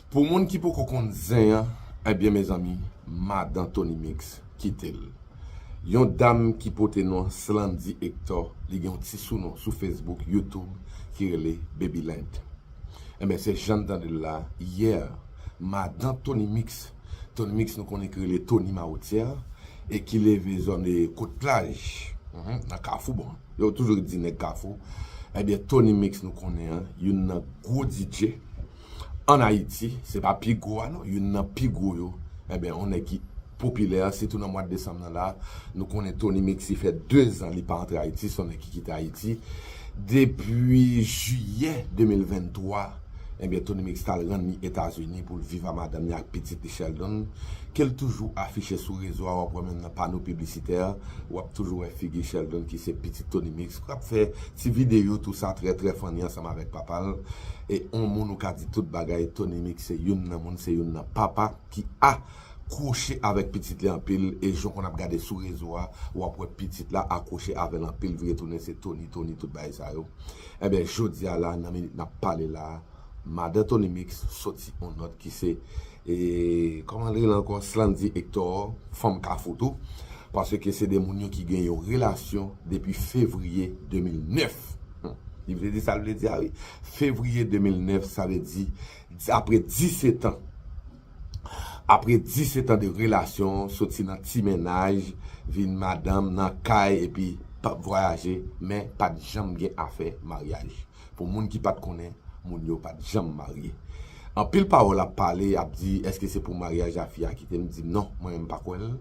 Pou moun ki poko konn zen an, ebyen mezanmi, madan Tony Mix kite l. Yon dam ki pote non Slandy Hector, li gen yon ti sounon sou Facebook, YouTube ki rele Baby Lent. Ebyen se jan n tande l la, yè, madan Tony Mix, Tony Mix nou konnen ki rele Tony Mawotyè, e ki leve zòn Kot Plaj, nan Kafou bon. Yo toujou di nèg kafou, ebyen Tony mix nou konnen an, youn nan gwo DJ an Ayiti, se pa pi gwo a non, youn nan pi gwo yo, ebyen on nèg ki popilè, sitou nan mwad desanm nan la, nou konnen Tony mix si fè 2 zan li pa antre Ayiti, son nèg ki kite Ayiti depi jiyè 2023. Ebyen Tony Mix tal rann li Etazini poul viv a madanm li ak pitit li Sheldon kel toujou afiche sou rezo a wap wè menm nan pano piblisitè wap toujou wè figi Sheldon ki se pitit Tony Mix kap fè ti videyo tou sa trè trè funny ansanm avèk papal e on moun ou ka di tout bagay Tony Mix se youn nan moun se youn nan papa ki a kwoche avèk pitit li anpil e jan konn ap gade sou rezo a wap wè pitit la akwoche avèl anpil vire tounen se Tony Tony tout bagay sa yo. Enben jodia la nan minit nap pale la madan Tony Mix soti on nòt ki se e kòman li rele ankò Slandy Hector fanm kafou tou paske se 2 moun yo ki gen yon relasyon depi fevriye 2009 hum li vle di sal vle di a wi fevriye 2009 sa vle di apre 17 an Apre 10 setan de relasyon, soti nan ti mennaj, vin madanm nan kay epi pap vwayaje, men pat janm gen afè maryaj. Pou moun ki pat konnen, moun yo pat janm marye. Anpil pawòl ap pale, y ap di èske se pou maryaj a fi a kite, m di non, mwen menm m pa kwè l.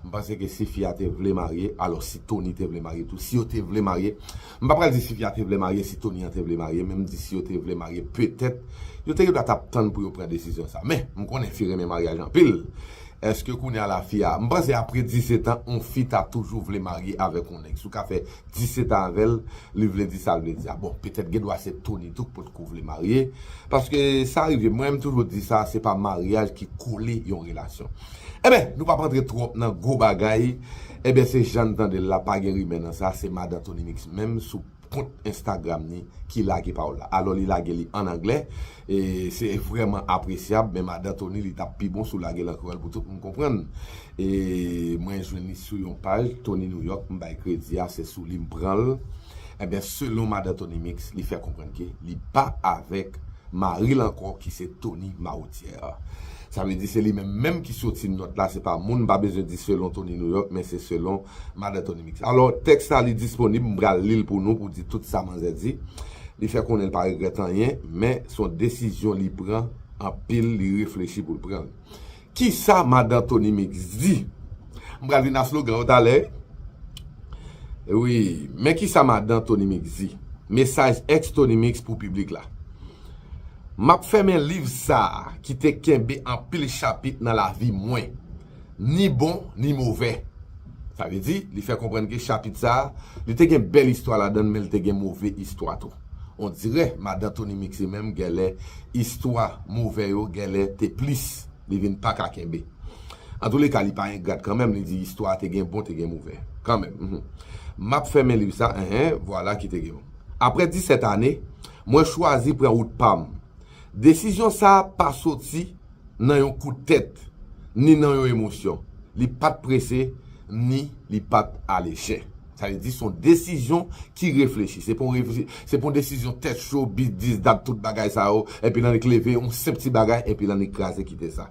M panse ke si fi a te vle marye, alò si Tony te vle marye tou, si yo te vle marye, M pa pral di Sylvia te vle marye si Tony an te vle marye men m di si yo te vle marye petèt yo te gendwa tap tann pou yo pran desizyon sa men m konnen fi renmen maryaj anpil eske kounya la fi a m panse apre 17 an on fi ta toujou vle marye avèk on nèg si w ka fè 17 an avèl li vle di sa l vle di a bon petèt gendwa se Tony tou k pot ko vle marye paske sa rive mwen m toujou di sa se pa maryaj ki kole yon relasyon. Enben, nou pap antre twòp nan gwo bagay, enben se jan n tande l la, pa gen rimè nan sa, se Madan Tony Mix menm sou kont enstagram ni ki lage pawòl la. Alò li lage li an anglè, e se vrèman apresyab, men Madan Tony li t ap pi bon si w lage l an kreyòl pou tout moun konprann. E mwen jwenn li sou yon paj, Tony New York, m bay kredi a, se sou li m pran l. Enben, selon Madan Tony Mix, li fè konprann ke li pa avèk mari l ankò ki se Tony Mahoutière. Sa vle di se li menm menm ki soti nòt la, se pa moun, m pa bezwen di selon Tony New York men se selon Madan Tony Mix. Alò, tèks la li disponib, m pral li l pou nou pou di tout sa manzè di. Li fè konnen l pa regrèt anyen, men s on desizyon li pran anpil, li reflechi pou l pran l. Kisa Madan Tony Mix di? M pral vin a slogan yo talè wi. Wi, men kisa Madan Tony Mix di? Mesaj ex Tony Mix pou piblik la. M ap fèmen liv sa a ki te kenbe anpil chapit nan lavi mwen, ni bon ni movè. Sa vle di, li fè konprann ke chapit sa a, li te gen bèl istwa ladan l men li te gen move istwa tou. Ondirè Madan Toni Mixe menm genlè istwa move yo genlè te plis, li vin pa ka kenbe. Antouleka li pa engrat kanmenm, li di istwa a te gen bon te gen move. Kanmenm. M ap fèmen liv sa a, enhen, vwala ki te gen bon. Aprè disèt ane, Mwen chwazi pran wout pa m. Desizyon sa a pa soti nan yon kout tèt, ni nan yon emosyon. Li pa t prese, ni li pa t alejè. Sa vle di, se yon desizyon ki reflechi. Se pa yon desizyon tèt cho, bis dis dat, tout bagay sa yo, epi l annik leve yon senp ti bagay, epi l annik kraze kite sa.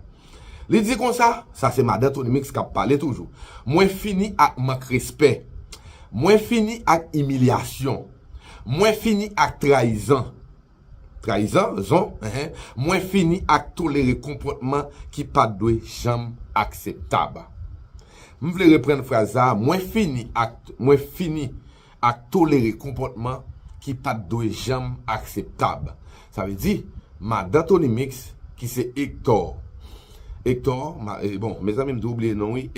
Li di konsa, sa se Madan Tony Mix k ap pale toujou, Mwen fini ak mank respè. Mwen fini ak imilyasyon. Mwen fini ak trayizan, trayizan, zon, eh, mwen fini ak tolere konpòtman ki pa t dwe janm akseptab. M vle reprann fraz sa a, mwen fini ak, mwen fini ak tolere konpòtman ki pa t dwe janm akseptab. Sa vle di, madan Tony Mix ki se Hector. Hector, bon, mezanmi m tou bliye non wi,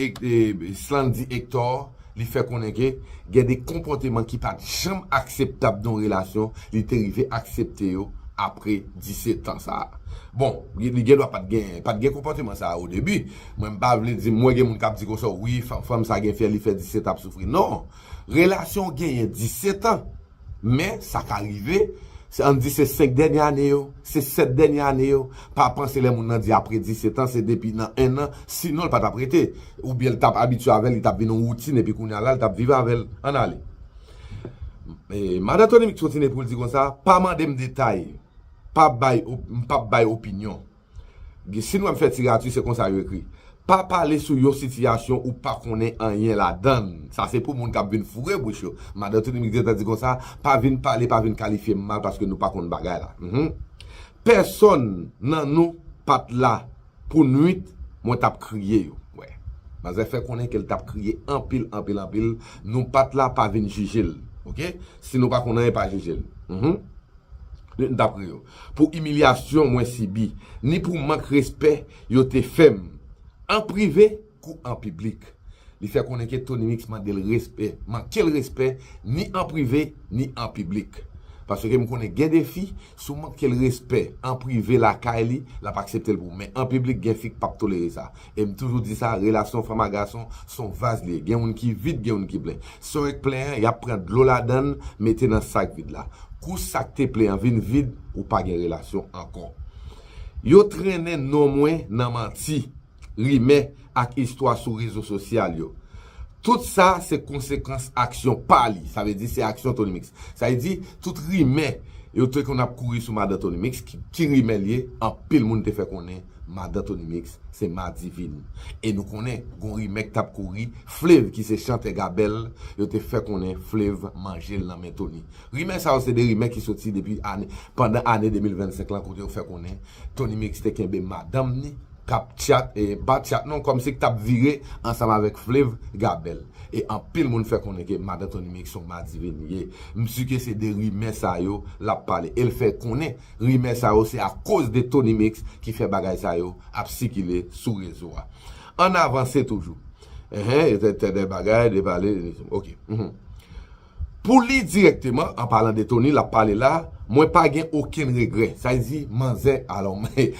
Slandy Hector, li fè konnen ke gen de konpòteman ki pat janm akseptab nan yon relasyon, li te rive aksepte yo apre 17 ans sa a. Bon, li gen dwa pat gen, pat gen konpòteman sa a o debi, mwen m pa vle di, m wè gen moun k ap di konsa, wi, fanm sa gen fè li fè 17 ap soufri. Non, relasyon w genyen 17 ans, Men, sa ka rive, an n di se senk dènye ane yo, se sèt dènye ane yo, pa panse lè moun nan di apre disetan se depi nan ennan, sinon l pa t ap rete. Oubyen l t ap abitye avè l, li t ap vin yon woutin epi kounye a la l t ap viv avè l. Ann ale. Madan Tony Mix kontinye pou l di konsa, Pa mande m detay, pa bay, m p ap bay opinyon. Gen si nou ap fè tirati se konsa yo ekri. Pa pale sou yon sitiyasyon ou pa konnen anyen ladan l. Sa se pou moun k ap vin foure bouch yo. Madan Tini Mix gentan di konsa, pa vin pale, pa vin kalifye m mal paske nou pa konn bagay la. Mph. Pèsòn nan nou pa t la pou nuit mwen t ap kriye yo. Wè. Manzè fè konnen ke l t ap kriye anpil, anpil, anpil. Nou pa t la, pa vin jije l. Ok. Si nou pa konn anyen, pa jije l. Mph. m t ap ri yo, pou imilyasyon mwen sibi, ni pou mank respè yo te fè m, an prive kou an piblik. Li fè konnen ke Tonymix mande l respè, manke l respè ni an prive ni an piblik. Paske m konnen gen de fi, si w manke l respè an prive lakay li, l ap aksepte l pou w, men an piblik gen fi k p ap tolere sa. E m toujou di sa, relasyon fanm a gason s on vaz li ye. Gen youn ki vid, gen youn ki plen. Si on ek plen an, y ap pran dlo ladan l mete nan sak vid la. Kou sak te plen an vin vid, ou pa gen relasyon ankò. Yo trennen non mwen nan manti, rimè ak istwa sou rezo sosyal yo. Tout sa se konsekans aksyon pa li, sa vle di se aksyon Tony Mix. Sa vle di, tout rimè yo te konn ap kouri sou madan Tony Mix, ki rimè l ye, anpil moun te fè konnen Madan Tonymix se Madivine e nou konnen gon rimè k tap kouri Flev ki se chantè Gabel yo te fè konnen Flev manje l nan men Tony. Rimè sa yo se 2 rimè ki soti depi ane pandan ane 2025 lan kote yo fè konnen Tonymix te kenbe madanm ni k ap tchat e pa tchat non kòmsi k t ap vire ansanm avèk Flev Gabel e anpil moun fè konnen ke madan Tonymix se yon Madivine ye. M si ke se de rimè sa yo l ap pale e l fè konnen Rimè sa yo se a koz de Tonymix ki fè bagay sa yo ap sikile sou rezo a. Ann avanse toujou. Enh yo te tèdè bagay de pale de Tony ok uhmm. Pou li dirèkteman an palan de Tony lap pale la mwen pa gen okenn regrè sa vle di manzè alò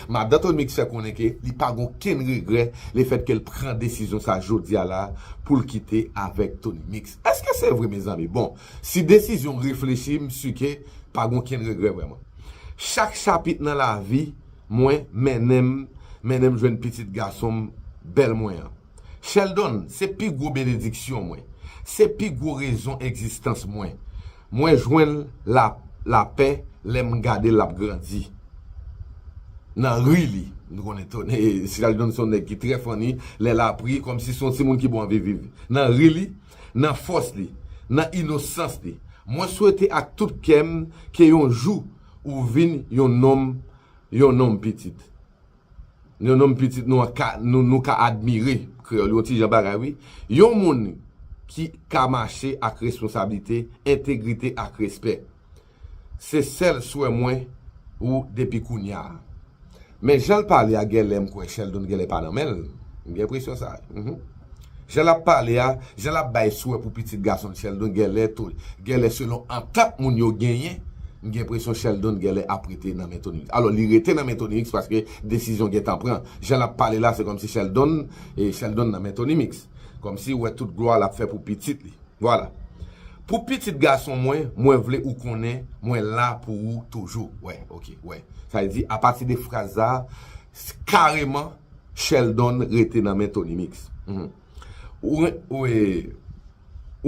madan Tonymix fè konnen ke li pa gen okenn regrè le fèt ke l pran desizyon sa jodia la pou l kite avèk Tonymix. Eske se vre mezanmi bon. Si desizyon reflechi m si ke pa gen okenn regrè vrèman. Chak chapit nan lavi mwen mennen m mennen m jwenn pitit gason m bèl mwen an. Sheldon se pi gwo benediksyon mwen. Se pi gwo rezon egzistans mwen. Mwen jwenn la lapè lè m gade l ap grandi nan ri li. M konnen tone Sheldon se yon nèg ki trè funny lè l ap ri kòmsi se yon timoun ki bon anvi viv nan ri li. Nan fòs li, nan inosans li. Mwen swete ak tout kè m ke yon jou ou vin yon nonm, yon nonm pitit. Yon nonm pitit nou an ka, nou ka admire, kreyòl yon ti jan bagay wi. Yon moun ki ka mache ak responsablite, entegrite ak respè. Se sèl swè mwen ou depi kounya. Men janl pale a genlè m kwè Sheldon genlè pa nan menl, m gen enpresyon sa wi. Jan lap pale a, jan lap bay swè pou pitit gasonl Sheldon genlè to genlè selon antant moun yo genyen, m gen enpresyon Sheldon genlè ap rete nan men Tonix. Alò li rete nan men Tonix paske desizyon gentan pran. Jan lap pale la se kòmsi Sheldon Sheldon nan men Tonimix. Kòmsi ou wè tout glwa lap fè pou pitit li. Vwala. Pou pitit gason mwen, mwen vle ou konnen mwen la pou ou toujou. Wè, ok, wè. Sa vle di, apati de fraz sa a, kareman, Sheldon rete nan men Tonymix. Ou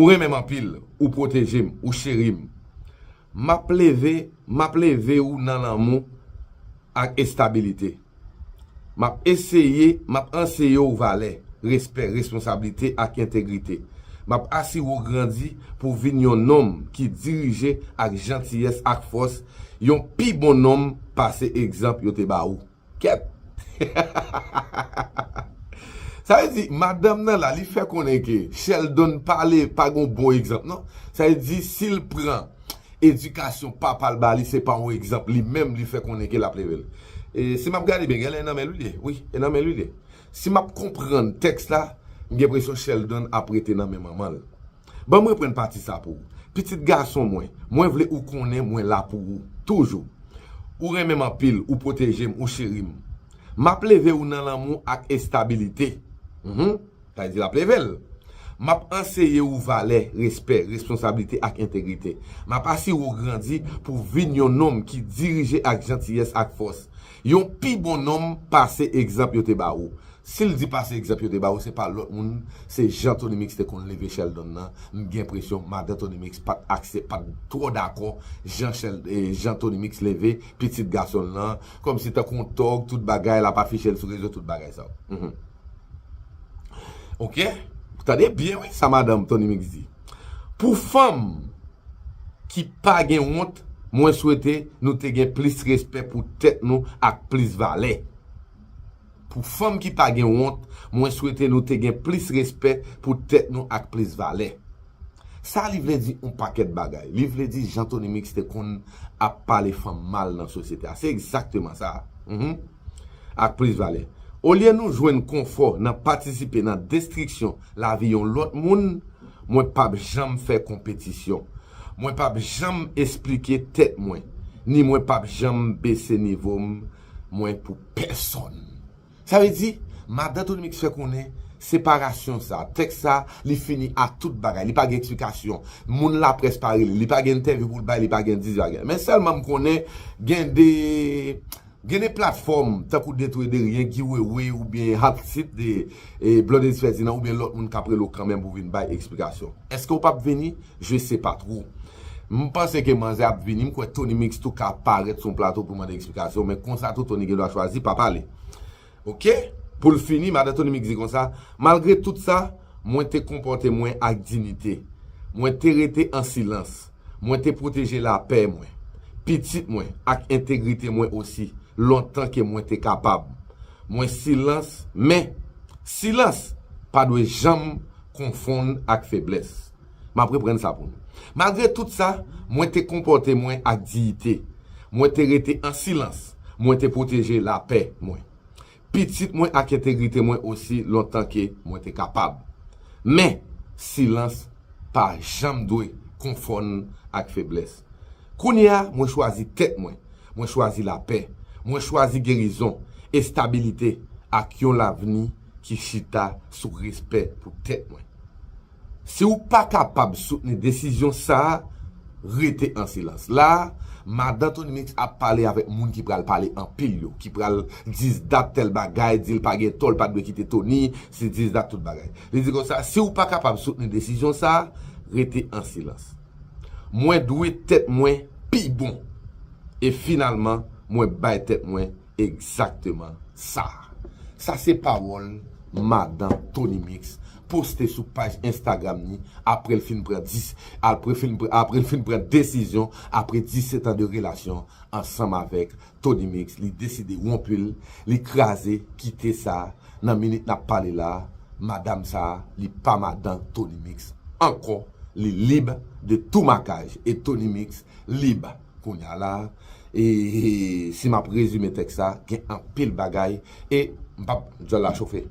renmen m anpil, ou pwoteje m, ou cheri m. M ap leve, m ap leve ou nan lanmou ak estabilite. Map eseye, map anseye w valè, respè, responsablite ak entegrite. Map asire w grandi pou w vin yon nonm ki dirije ak jantiyès ak fòs, yon pi bon nonm pase egzanp yo te ba ou. Kèt! Sa vle di, madanm nan la, li fè konnen ke Sheldon pale pa gen yon bon egzanp non. Sa vle di, si l pran Edikasyon papal bali se pa yon egzanp li menm li fè konnen ke lap level. E si map gade byen genlè e nan menl wi li, wi e nan menl wi li. Si map konprann tèks la, m gen presyon Sheldon ap rete nan men manmanl. Banm reprann pati sa pou ou. Pitit gason mwen, mwen vle ou konnen mwen la pou ou. Toujou. Ou renmenm anpil, ou pwotejem, ou cherim. Map leve ou nan lanmou ak estabilite. Uhmm. Sa vle di l ap leve l. M ap anseye ou valè, respè, responsablite ak entegrite. M ap asire ou grandi pou w vin yon nonm ki dirije ak jantiyès ak fòs. Yon pi bon nonm pase egzanp yo te ba ou. Si l di pase egzanp yo te ba ou se pa lòt moun se jan Tony Mix te konn leve Sheldon nan, m gen enpresyon madan Tony Mix pa t aksep, pa t twò dakò jan jan Tony Mix leve pitit gason l lan, kòmsi tankou yon tòg tout bagay, l ap afiche l sou rezo tout bagay sa yo. Ok, tande byen wi sa madanm Tony Mix di. Pou fanm ki pa gen wont, mwen swete nou te gen plis respè pou tèt nou ak plis valè. Pou fanm ki pa gen wont, mwen swete nou te gen plis respè pou tèt nou ak plis valè. Sa li vle di on pakèt bagay. Li vle di jan Tony Mix te konn ap pale fanm mal nan sosyete a. Se egzakteman sa. Uhmm. Ak plis valè. Olye nou jwenn konfò nan patisipe nan destriksyon lavi yon lòt moun, mwen pap janm fè konpetisyon. Mwen pap janm esplike tèt mwen, ni mwen pap janm bese nivo m mwen pou pèsonn. Sa vle di, Madan Tony Mix fè konnen, separasyon sa, tèks sa, li fini a tout bagay. Li pa gen eksplikasyon. Moun laprès pa rele. Li pa gen entèvyou pou l bay, li pa gen di bagay. Men sèlman m konnen gen de gen de platfòm tankou De Tou e De Ryen, Guy Wewe oubyen Hot Seat de Blondedy Ferdinand oubyen lòt moun k ap rele w kanmenm pou w vin bay eksplikasyon. Èske w p ap vini? Je sais pas trop. M panse ke manzè ap vini, m kwè Tony Mix tou ka parèt sou yon plato pou mande eksplikasyon, men konsa tou Tony gen dwa chwazi pa pale. Ok! Pou l fini, madan Tony Mix di konsa, Malgre tout sa, mwen te konpòte mwen ak dinite. Mwen te rete an silans. Mwen te pwoteje lapè mwen, pitit mwen ak entegrite mwen osi lontan ke mwen te kapab. Mwen silans, men, silans pa dwe janm konfonn ak feblès. M ap reprann sa pou nou. Malgre tout sa, mwen te konpòte mwen ak diyite. Mwen te rete an silans. Mwen te pwoteje lapè mwen. Pitit mwen ak entegrite mwen osi lontan ke mwen te kapab. Men, silans pa janm dwe konfonn ak feblès. Kounye a, mwen chwazi tèt mwen. Mwen chwazi lapè. Mwen chwazi gerizon, estabilite, ak yon lavni ki chita sou respè pou tèt mwen. Si w pa kapab soutni desizyon sa a, rete an silans. La a, Madan Tony Mix ap pale avèk moun ki pral pale anpil yo, ki pral dizdat tèl bagay, di l pa gen tò, l pa dwe kite Tony, se dizdat tout bagay. Li di konsa, si w pa kapab soutni desizyon sa a, rete an silans. Mwen dwe tèt mwen pi bon. E finalman, mwen bay tèt mwen. Egzakteman sa a. Sa se pawòl madan Tony Mix poste sou paj Instagram ni apre l fin pran dis apre fin apre l fin pran desizyon apre 17 an de relasyon ansanm avèk Tony Mix li deside wonpu l li kraze kite sa nan minit n ap pale la a madam sa a li pa madan Tony Mix ankò li lib de tou makaj e Tony Mix lib kounya la e si map rezime tèks sa gen anpil bagay e m pap dyòl la chofe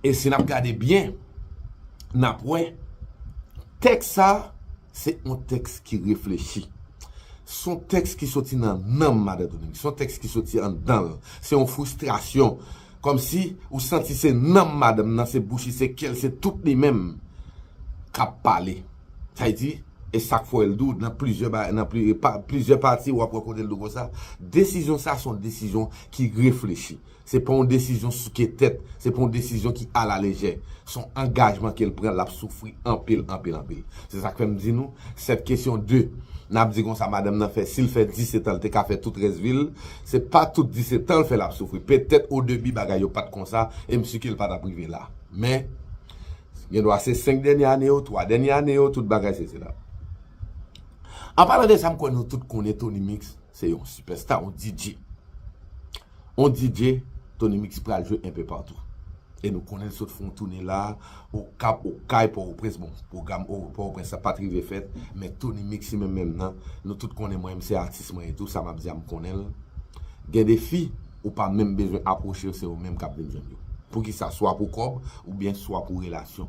e si nap gade byen nap wè tèks sa. Se yon tèks ki reflechi. Se yon tèks ki soti nan nanm Madan Dominique. Se yon tèks ki soti anndan l. Se yon fristrasyon. Kòm si ou santi se nanm madanm nan, se bouch li, se kè l, se tout li menm k ap pale. Sa vle di, e sa k fè w wè l dou, nan plizyè bagay, nan plizyè pati w ap wè kote l dou konsa. Desizyon sa a se yon desizyon ki reflechi. Se pa yon desizyon souke tèt, se pa yon desizyon ki alalejè. Se yon angajman ke l pran, l ap soufri anpil, anpil, anpil. Se sa k fè m di nou, sèt kesyon de, n ap di konsa madanm nan fè, si l fè disetan, l te ka fè tout rès vi l, se pa tout disetan l fè l ap soufri. Petèt odebi bagay yo pa t konsa, e m si ke l pa t ap rive la. Men, gen dwa se senk dènye ane yo, twa dènye ane yo, tout bagay sesi la. An palan de sa, m kwè nou tout konnen Tony Mix se yon sipèsta, yon DJ. On DJ Tony Mix pral jwe enpe patou. E nou konnen l sot fè yon toune la, Okap, Okay, Pòtoprens, bon pwogram Pòtoprens la pat rive fèt, men Tony Mix li menm menm nan, nou tout konnen mwen menm se atis mwen ye tou, sa m ap di a m konnen l. Gen de fi, ou pa menm bezwen apwoche yo se yo menm k ap vin jwenn yo. Poukisa? Swa pou kòb oubyen swa pou relasyon.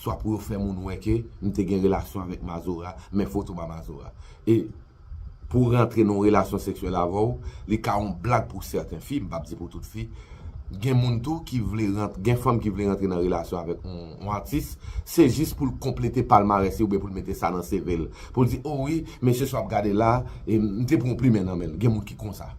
Swa pou yo fè moun wè ke m te gen relasyon avèk Mazora, men foto m a Mazora. E Pou w rantre nan yon relasyon seksyèl avè w, li ka yon blag pou sèten fi, m p ap di pou tout fi. Gen moun tou ki vle, gen fanm ki vle rantre nan relasyon avèk yon atis, se jis pou l konplete palmarès li oubyen pou l mete sa nan CV l. Pou l di, o wi, mesye sa w ap gade la, m te pran yon plimen nan men l. Gen moun ki konsa.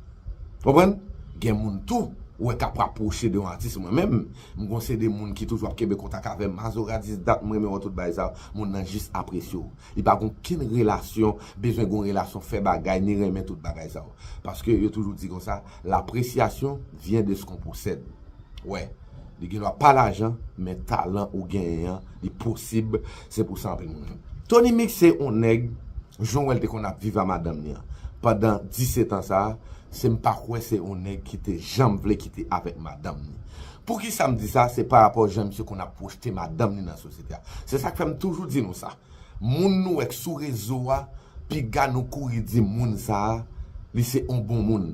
Konprann? Gen moun tou, ou wè k ap rapwoche de yon atis. Mwen menm, m gon seri de moun ki toujou ap kenbe kontak avè m. Mazora, 10 dat m renmen wè w tout bagay sa yo. Moun nan jis apresye w. Li pa gen okenn relasyon, bezwen gen yon relasyon, fè bagay, ni renmen tout bagay sa yo. Paske yo toujou di konsa, l'appréciation vient de ce qu'on possède. Wè, li gen dwa pa lajan, men talan ou genyen an, li posib, se pou sa anpil moun renmen. Tony Mix se yon nèg, jan w wè l te konn ap viv a madanm li an, pandan 17 an sa a, se m pa kwè se yon nèg ki te janm vle kite avèk madanm li. Poukisa m di sa, se parapò jan misye konn ap pwojte madanm li nan sosyete. Se sak fè m toujou di nou sa. Moun nou wè k sou rezo a, piga nou kouri di moun sa a, li se yon bon moun.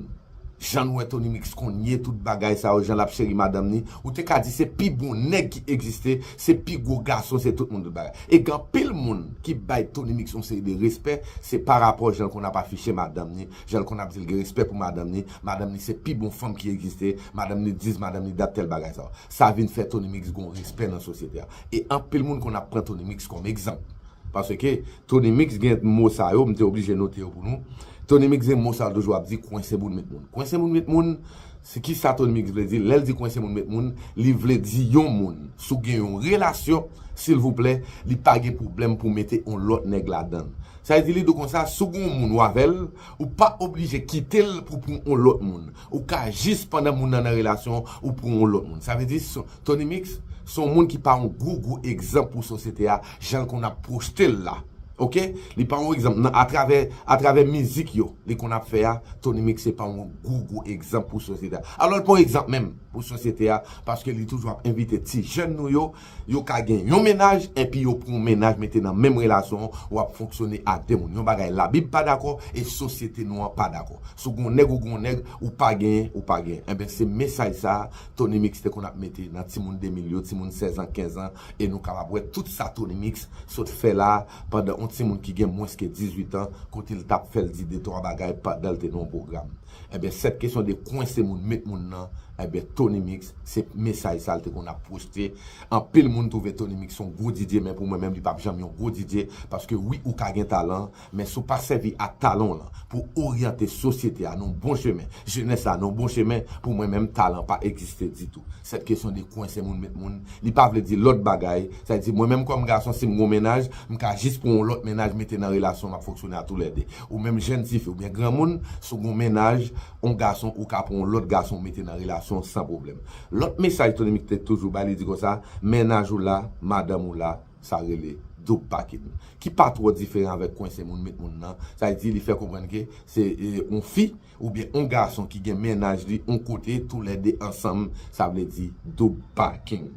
Jan nou wè Tony Mix kounye, tout bagay sa yo, jan l ap cheri madanm ni, ou te ka di se pi bon nèg ki egziste, se pi gwo gason, se tout moun tout bagay. E gen anpil moun ki bay Tony Mix yon seri de respè, se pa rapò jan l konn ap afiche madanm ni, jan l konn ap di l gen respè pou madanm ni, madanm ni se pi bon fanm ki egziste, madanm ni dis, madanm ni dat, tèl bagay sa yo. Sa vin fè Tony Mix gen yon respè nan sosyete a. E anpil moun konn ap pran Tony Mix kòm egzanp. Paske Tony Mix gen mo sa yo, m te oblije note yo pou nou. Tony Mix gen mo sa l toujou ap di, kwense moun met moun. Kwense moun met moun, se ki sa Tony Mix vle di? Lè l di kwense moun met moun, li vle di yon moun, si w gen yon relasyon, silvouplè, li pa gen pwoblèm pou w mete yon lòt nèg ladan l. Sa vle di li di w konsa, si w gen yon moun w avè l, ou pa oblije kite l pou w pran yon lòt moun. Ou ka jis pandan moun nan nan relasyon ou pou yon lòt moun. Sa vle di Tony Mix se yon moun ki pa yon gwo gwo egzanp pou sosyete a jan l konn ap pwojte l la. Ok. Li pa yon egzanp nan atravè atravè mizik yo li konn ap fè a Tony Mix se pa yon gwo gwo egzanp pou sosyete a. Alò l pa yon egzanp menm pou sosyete a paske li toujou ap envite ti jèn nou yo Yo ka gen yon mennaj enpi yo pran yon mennaj mete nan menm relasyon an ou ap fonksyone a 2 moun yon bagay labib pa dakò e sosyete nou an pa dakò si w gen yon nèg ou gen yon nèg ou pa genyen ou pa genyen enben se mesaj sa a Tonymix te konn ap mete nan timoun 2000 yo timoun 16 an 15 an e nou kapab wè tout sa Tonymix sot fè la a pandan yon timoun ki gen mwens ke 18 an kote l t ap fè l di 2 3 bagay pandan l te nan yon pwogram. Ebyen cette question de kwense moun met moun nan ebyen Tony mix se mesaj sa l te konn ap pwochte anpil moun twouve Tony mix son gwo DJ men pou mwen menm li pap janm yon gwo DJ paske wi ou ka gen talan men si w pa sèvi ak talan w lan pou w oryante sosyete a nan yon bon chemen jenès la nan yon bon chemen pou mwen menm talan pa egziste ditou cette question de kwense moun met moun li pa vle di lòt bagay sa vle di mwen menm kòm gason si m gen yon mennaj m ka jis pran yon lòt mennaj mete nan relasyon m ap fonksyone a tou lè 2 Ou menm jenn tifi oubyen granmoun, si w gen yon mennaj, yon gason ou ka pran yon lòt gason ou mete nan relasyon san pwoblèm. Lòt mesaj Tony Mix te toujou bay li di konsa, mennaj ou la, madanm ou la, sa rele doub pakin. Ki pa twò diferan avèk kwense moun met moun nan, sa vle di li fè konprann ke se yon fi oubyen yon gason ki gen mennaj li yon kote tou lè 2 ansanm, sa vle di doub pakin.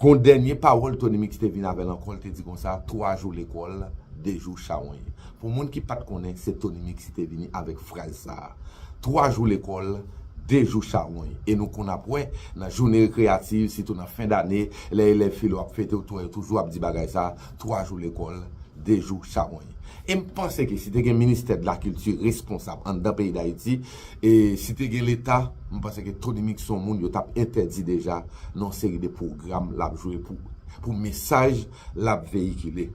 Gon dènye pawòl Tony Mix te vin avè l ankò l te di konsa 3 jou lekòl 2 jou chawony pou moun ki pat konnen se Tony Mix ki te vini avèk fraz sa 3 jou lekòl 2 jou chawony e nou konn ap wè nan joune rekreyativ sitou nan fen dane lè elèv filo ap fete ou t wè yo toujou ap di bagay sa 3 jou lekòl 2 jou chawony e m panse ke si te gen ministè dlakilti responsab anndan peyi dayiti E si te gen leta, m panse ke Tonymix son moun yo tap entèdi deja nan yon seri de pwogram lap jwe pou pou mesaj lap veyikile.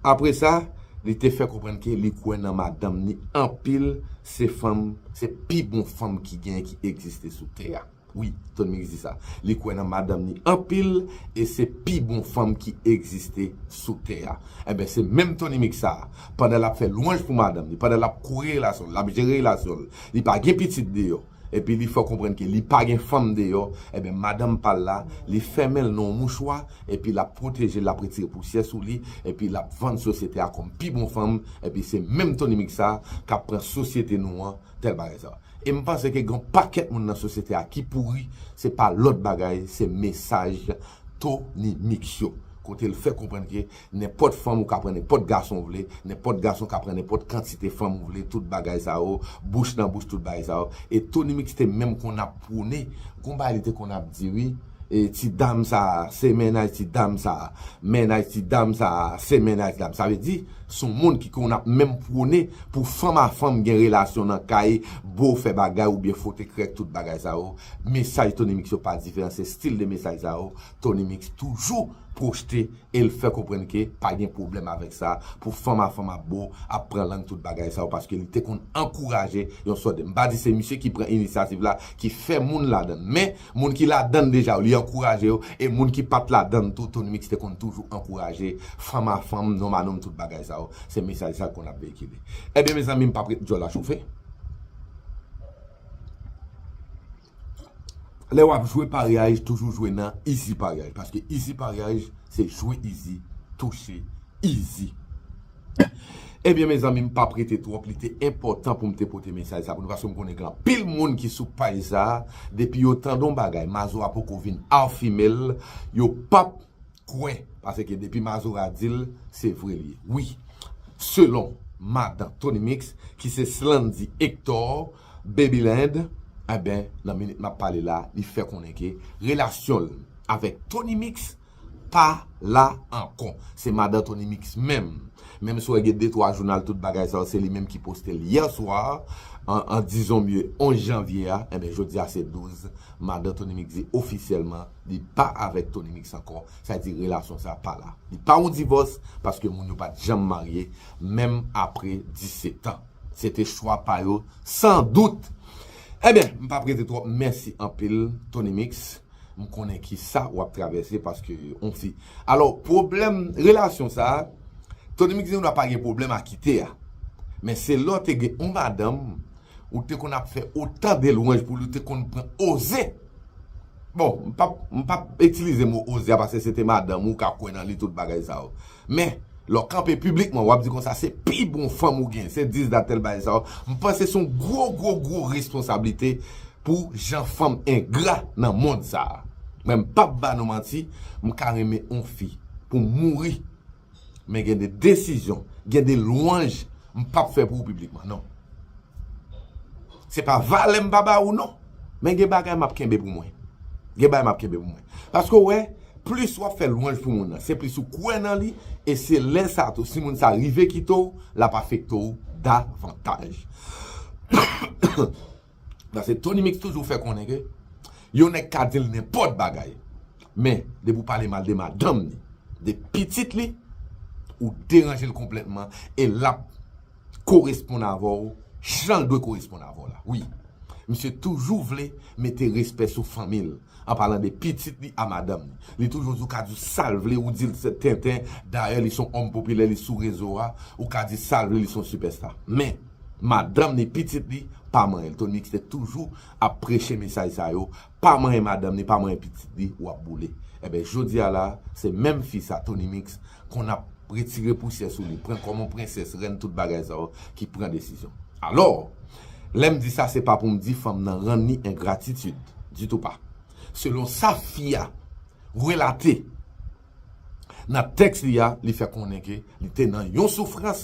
Apre sa, li te fè konprann ke li kwè nan madanm ni anpil, se fanm, se pi bon fanm ki genyen ki egziste sou tè a. Wi ton mix di sa. Li kwè nan madanm ni anpil e se pi bon fanm ki egziste sou tè a. Enben se menm Tony Mix sa, pandan lap fè lwanj pou madanm li, pandan lap kouri relasyon l, lap jere relasyon l, li pa gen pitit deyò, epi li fè w konprann ke li pa gen fanm deyò, enben madanm pa l la, li fèmen l nan yon mouchwa, epi lap pwoteje l, lap retire pousyè sou li, epi lap vann sosyete a kòm pi bon fanm, enpi se menm Tony Mix sa kap pran sosyete nou an tèl bagay sa. E m panse ke gen yon pakèt moun nan sosyete a ki pouri, se pa lòt bagay, se mesaj Tony Mix yo. Kote l fè konprann ke nenpòt fanm ou ka pran nenpòt gason ou vle, nenpòt gason ka pran nenpòt kantite fanm ou vle, tout bagay sa yo, bouch nan bouch, tout bagay sa yo. E Tony Mix te menm konn ap pwone, gon bagay li te konn ap di wi, Ti dam sa a se mennaj ti dam sa a. Mennaj ti dam sa a se mennaj dam sa a. Sa vle di, s on moun ki konn ap menm pwone pou fanm a fanm gen relasyon nan kay, bo fè bagay oubyen fwote krèk tout bagay sa yo. Mesaj Tony Mix yo pa diferan, se stil de mesaj sa yo Tony Mix toujou pwochte e l fè konprann ke pa gen pwoblèm avèk sa pou fanm a fanm ap bo, ap pran lang tout bagay sa yo paske li te konn ankouraje yon sòt de. M pa di se misye ki pran inisyativ la ki fè moun ladan l men Moun ki ladann deja yo li ankouraje yo e moun ki pat ladann tou tonymix te konn toujou ankouraje fanm a fanm nonm a nonm tout bagay sa yo se mesaj sa l konn ap veyikile ebyen mezanmi m pap ret djòl la chofe lè wap jwe paryaj toujou jwe nan izi paryaj paske izi paryaj se jwe izi touche izi. Ebyen mezanmi m pap rete twòp li te enpòtan poum te pote mesaj sa pou nou paske m konnen gen anpil moun ki sou paj sa depi yo tande yon bagay mazora poko vin afimel yo pap kwè paske depi mazora dil se vre li ye wi selon madan tonymix ki se slandy Hector babyland enben nan minit map pale la li fè konnen ke relasyonl avèk tonymix pa la ankò se madan Tony Mix menm menm si wè gen de twa jounal tout bagay sa yo se li menm ki poste l hier soir en disons mieux 11 janvier a enben jodi a se 12 madan Tony Mix di ofisyèlman li pa avèk Tony Mix ankò sa di relasyon sa pa la li pa yon divòs paske moun yo pat janm marye menm apre 17 ans se te chwa pa yo san dout enben m pap rete twòp mèsi anpil Tony Mix. M konnen kisa wap travèse paske on fi. Alò pwoblèm relasyon sa, Tony Mix di nou la pa gen pwoblèm a kite a. Men se lè w te gen on madanm, ou te konn ap fè otan de lwanj pou li, ou te konn pran oze. Bon, m pap m pap itilize mo oze a paske se te madanm ou, ou ka kwè nan li tout bagay sa yo. Men, lè w kanpe piblikman wap di konsa se pi bon fanm ou gen, se dis dat tèl bagay sa yo, m panse se on gwo gwo gwo responsablite Pou jan fanm engra nan mond sa. Men m pap ba nou manti m ka renmen on fi pou m mouri men gen de desizyon gen de lwanj m pap fè pou ou piblikman non. Se pa valè m pa ba ou non men gen bagay map kenbe pou mwen. Gen bagay map kenbe pou mwen. Paske ou wè plis wap fè lwanj pou moun nan se plis ou kwè nan li e se lè sa tou si moun sa rive kite w lap afekte w davantaj. Paske Tony Mix toujou fè konnen ke yon nèg ka di l nenpòt bagay, men depi w pale mal de madanm li, de pitit li, ou deranje l konplètman e l ap koresponn avè w jan l dwe koresponn avè w la. Wi, misye toujou vle mete respè sou fanmi l, an palan de pitit li a madanm li. Li toujou di w ka di w sa l vle, ou di l se tenten, dayè li s on òm popilè, li sou rezo a, ou ka di sa l vle, li s on sipèsta. Men! Madanm ni pitit li pa manyenl Tony mix te toujou ap preche mesaj sa yo pa manyen madanm ni pa manyen pitit li wap boule enben jodia la se menm fi sa Tony mix konn ap retire pousyè sou li pran kòm yon prensès rèn tout bagay sa yo ki pran desizyon alò lèm di sa se pa poum di fanm nan rann li engratitid ditou pa selon sa fi a relate. Nan tèks li a, li fè konnen ke li te nan yon soufrans,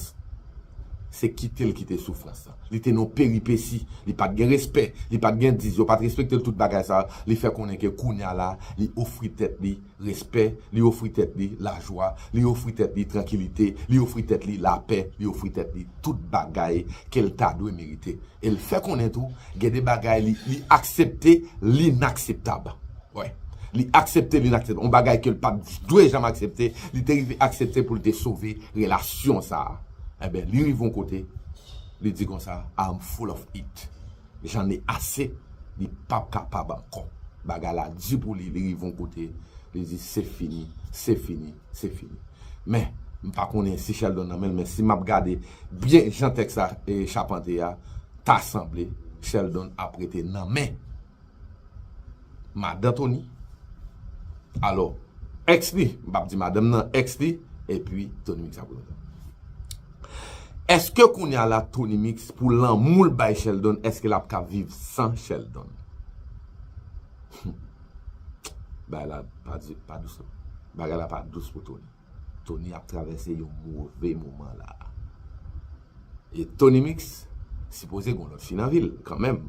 se kite l kite soufrans lan. Li te nan yon peripesi, li pa t gen respè, li pa t gen diz, yo pa t respekte l, tout bagay sa yo, li fè konnen ke kounye a la, li ofri tèt li respè, li ofri tèt li lajwa, li ofri tèt li trankilite, li ofri tèt li lapè, li ofri tèt li. tout bagay ke l ta dwe merite. E l fè konnen tou, gen de bagay li, li aksepte linakseptab. Wi. Li aksepte linakseptab. Yon bagay ke l pa t dwe janm aksepte, li te rive aksepte pou l te sove relasyon sa a. Enben, li rive yon kote, li di konsa, I am full of it. J'en ai assez. Li pa p kapab ankò. Bagay la di pou li, li rive yon kote, li di se fini, se fini. Se fini. Men, m pa konnen si Sheldon nan men l, men si m ap gade byen jan tèks la chapante a, ta sanble Sheldon ap rete nan men madan Tony, alò, èks li, m pa ap di madanm nan, èks li, epi Tony Mix ap rete nan men l. Èske kounye a la Tony Mix pou lanmou l bay Sheldon, èske l ap ka viv san Sheldon? Bagay la pa di pa dous non. Bagay la pa dous pou Tony. Tony ap travèse yon move moman la. E Tony Mix sipoze gon lòt fi nan vil kan menm.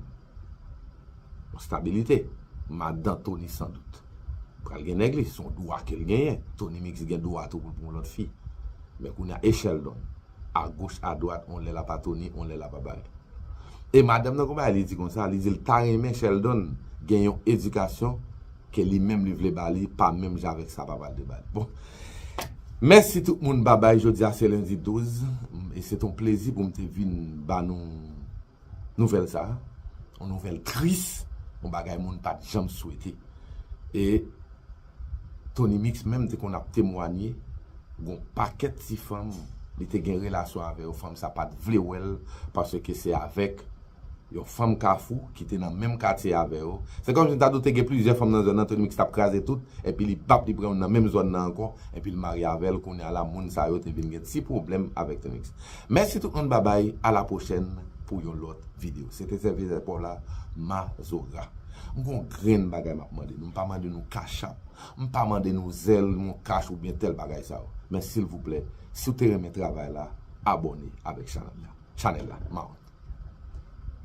Yon stabilite. Madan Tony san dout. Pral gen nèg li. Son dwa ke l genyen. Tony Mix gen dwa tou pou l pou yon lòt fi. Men kounya e Sheldon. agoch adwat on lè lap a Tony on lè lap a Bae e madanm nan gon bagay li di konsa li dil ta renmen Sheldon gen yon edikasyon ke li menm li vle ba li pa menm jan avèk sa papal te bal bon mèsi tout moun babay jodia se lendi 12 e se ton plezi poum te vin ba nou. Nouvèl sa, yon nouvèl tris, yon bagay moun pa t janm swete. E Tony Mix menm te konn ap temwanye, gon pakèt ti fanm li te gen relasyon avè yo, fanm sa pa t vle wè l paske se avèk yon fanm Kafou ki te nan menm katye avè yo. Se kòmsi m ta di w te gen plizyè fanm nan zòn nan, Tony Mix t ap kraze tout, enpi li bap li pran youn nan menm zòn nan ankò, enpi l marye avè l. Kounye a la moun sa yo te vin gen ti pwoblèm avèk Tony Mix. Mèsi tout moun babay a la pwochèn pou yon lòt video se te sèvitè paw la mazora m gon grenn bagay map mande nou m pa mande nou cash app m pa mande nou zelle mon cash oubyen tèl bagay sa yo men silvouplè si w te renmen travay la abòne avèk chanèl la chanèl la maron.